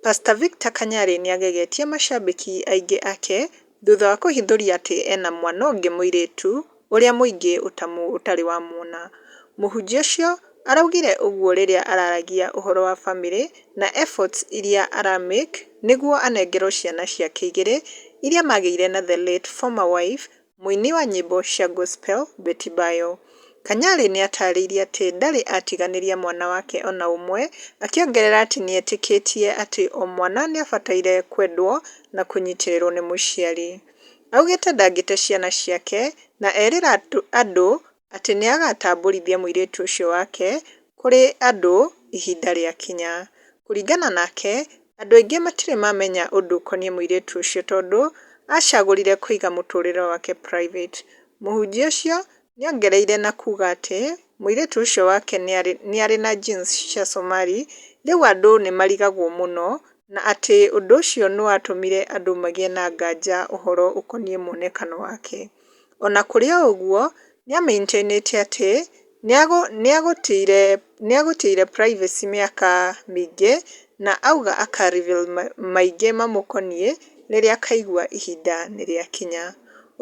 Pastor Victor Kanyari nĩagegetie macambĩki aingĩ ake thutha wa kũhithũria atĩ ena mwana ũngĩ mũirĩtu ũrĩa mũingĩ ũtamu ũtarĩ wamuona. Mũhunjia ũcio araugire ũguo rĩrĩa araragia ũhoro wa famĩlĩ na efforts iria ara make nĩguo anengerwo ciana ciake igĩrĩ iria magĩire na the late former wife Mũini wa nyĩmbo cia gospel Betty Bayo. Kanyari nĩatarĩirie atĩ ndarĩ atiganĩria mwana wake ona ũmwe, akĩongerera atĩ nĩetĩkĩtie atĩ o mwana nĩabataire kwendwo na kũnyitĩrĩrwo nĩ mũciari. Augĩte ndangĩte ciana ciake na erĩra andũ atĩ nĩ agaatambũrithia mũirĩtu ũcio wake kũrĩ andũ ihinda rĩakinya. Kũringana nake, andũ aingĩ matirĩ mamenya ũndũ ũkoniĩ mũirĩtu ũcio tondũ aacagũrire kũiga mũtũũrĩre wake private. Mũhunjia ũcio nĩ ongereire na kuuga atĩ mũirĩtu ũcio wake nĩ arĩ na genes cia Somali, rĩu andũ nĩ marigagwo mũno, na atĩ ũndũ ũcio nĩ watũmire andũ magĩe na nganja ũhoro ũkoniĩ muonekano wake. O na kũrĩ ũguo, nĩ aamĩintainĩtie atĩ nĩ egũtĩire privacy mĩaka mĩingĩ na auga aka reveal maingĩ mamũkoniĩ rĩrĩa akaigua ihinda nĩ rĩakinya.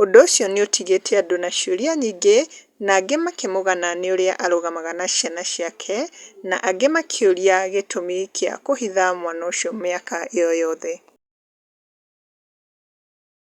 Ũndũ ũcio nĩ ũtigĩte andũ na ciũria nyingĩ na angĩ makĩmũgana nĩ ũrĩa arũgamaga na ciana ciake na angĩ makĩũria gĩtũmi kĩa kũhitha mwana ũcio mĩaka ĩyo yothe.